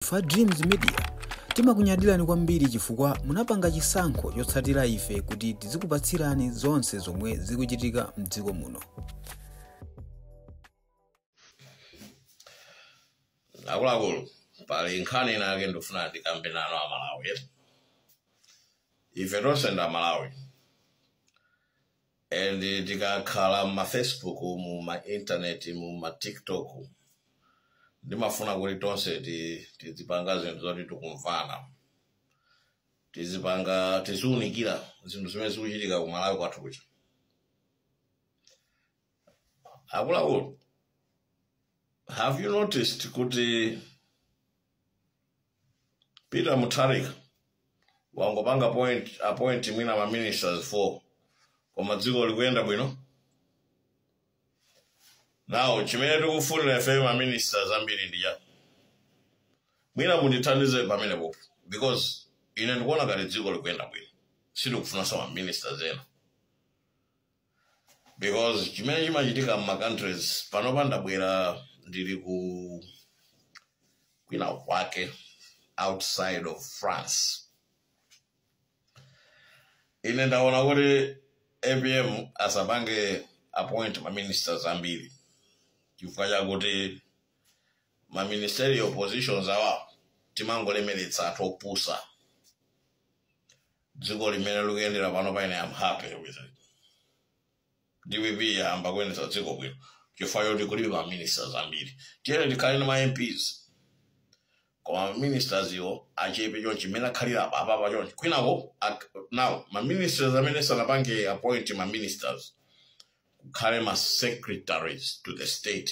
Ife a Dreams Media timakunyadilani kwambiri chifukwa munapanga chisankho chotsatira ife kuti tizikupatsirani zonse zomwe zikuchitika mdziko muno. akuluakulu pali nkhani ina yake ndifuna ndikambe nanu amalawi ife tonse ndi amalawi and tikakhala mma facebook mu ma internet mu ma tiktok ndimafuna kuti tonse ti- tizipanga zinthu zoti tikumvana tizipanga tiziunikira zinthu zimene zikuchitika ku malawi kwathu kuja akuluakulu have you noticed kuti peter mutharika wangopanga point appoint mwina ma ministers 4 koma dziko likuyenda bwino now chimene tikufunira ife ma ministers ambiri ndi chani mwina mundithandize pamenepo because ine ndikuona ngati dziko likuyenda bwino sindikufunanso ma ministers ena because chimene chimachitika mma countries panopa ndabwera ndili ku kwina kwake outside of france ine ndaona kuti apm asapange appoint maministers ambiri chifukwa chakuti maministerial positions awa timangolemeretsa athu opusa dziko mmene likuyendera pano paine am happy with it dpp yayamba kuyendetsa dziko bwino chifukwa choti kulibe ma ministers ambiri tiyeni tikhale ndi ma mps koma ma ministers iwo achepe chonchi mmene akhalira apa apapa chonchi kwinako ak- now ma ministers amene sanapange appoint ma ministers kukhale ma secretaries to the state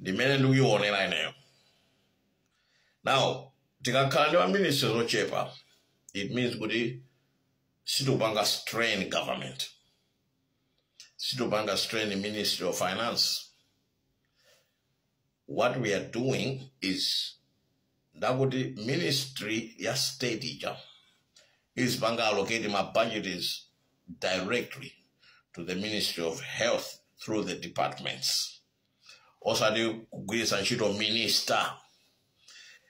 ndi mmene ndikuionera ineyo now tikakhala ndi maministers ochepa it means kuti sitikupanga strain government sitikupanga strain ministry of finance what we are doing is ndi kuti ministry ya state ija izipanga allocate ma budgets directly to the ministry of health through the departments osati kugwiritsa ntchito minister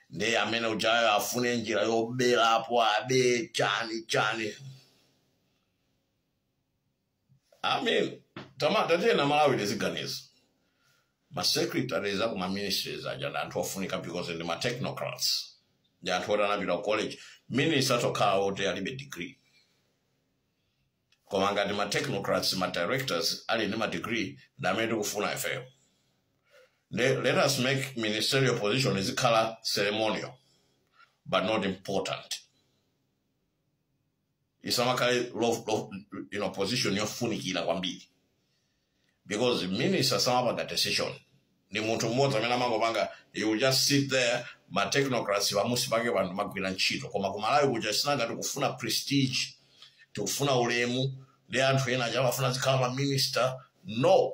ndiye amene ujayo afune njira yoberapo abe chani chani i mean tama tatiyeni amalawi tiziganiza ma secretaries aku ma ministries aja ndi anthu ofunika because ndi ma technocrats ndi anthu oti anapita ku college minister atokhala oti alibe degree koma ngati ma technocrats ma directors ali ndi ma degree ndi amene tikufuna ifeyo Le- let us make ministerial position izikhala ceremonial but not important isamakhale lo- lo- you know, position yofunikira kwambiri because minister samapanga decision ndi munthu mmodzi amene amangopanga he will just sit there ma technocrats pamusi pake anthu amagwira ntchito koma kumalawi kuja sinanga tikufuna prestige tikufuna ulemu ndi anthu ena aja amafuna azikhala maminister no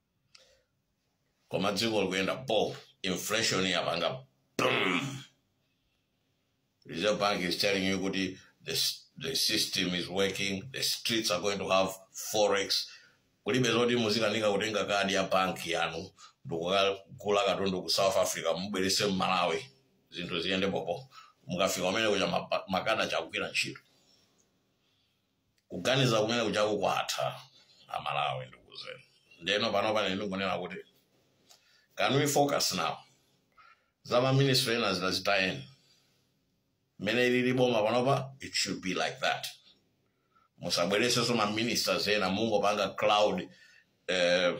koma dziko likuyenda bo inflation yapanga boom reserve bank is telling you kuti the, s- the system is working the streets are going to have forex kulibe zoti muzikanika kutenga kadi ya banki yanu ndikukagula katundu ku south africa mubwerese mmalawi zinthu ziyende bobo mukafika kumene kuja mapa- makadi sakugwira ntchito Kuganiza kumene kuja kukwatha amalawi ndikuzeni. Ndeno pano pane ndingonena kuti can we focus now za ma minister ena zina zitayeni mmene ilili boma panopa it should be like that musabweresenso ma ministers ena mungopanga crowd eh,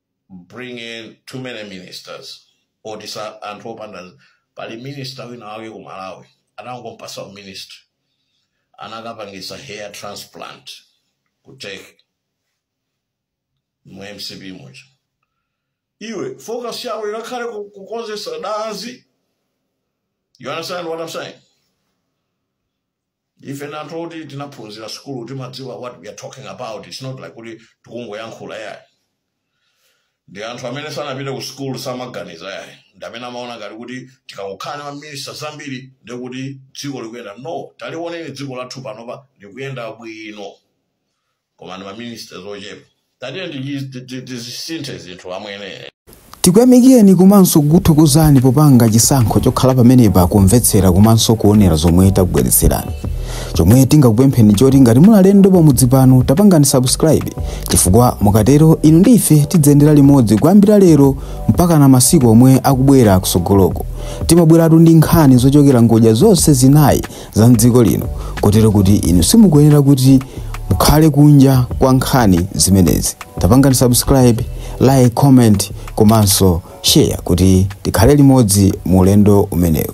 bring in too many ministers oti anthu opanda pali minister wina wake ku malawi anangompasa uministry anakapangisa hair transplant ku turkey mu mcp muja iwe focus yawo ikakhale ku- kukonzesa dazi you understand what i'm saying ife ndi anthu oti tinaphunzira sukulu timadziwa what we are talking about its not like kuti tikungoyankhula yayi ndi anthu amene sanapite ku sukulu samaganiza yayi ndi amene amaona ngati kuti tikangokhala ndi maminista zambiri ndiye kuti dziko likuyenda no taliwoneni dziko lathu panopa likuyenda bwino koma ndi maministers ochepa tatiyeni tichi- ti- ti- tizisinthe zinthu amwene tikuyamikireni komanso kukuthokozani popanga chisankho chokhala pamenepa kumvetsera komanso kuonera zomwe takubweretserani chomwe tingakupempheni choti ngati muli alendo pamudzi pano tapangani subscribe chifukwa mukatero inu ndi ife tidziyendera limodzi kuyambira lero mpakana masiku omwe akubwera kusogoloko timabweratu ndi nkhani zochokera ngodya zonse zinayi za mdziko lino kotero kuti inu simukuyenera kuti mukhale kunja kwa nkhani zimenezi tapangani subscribe like comment komanso share kuti tikhale limodzi mu ulendo umenewu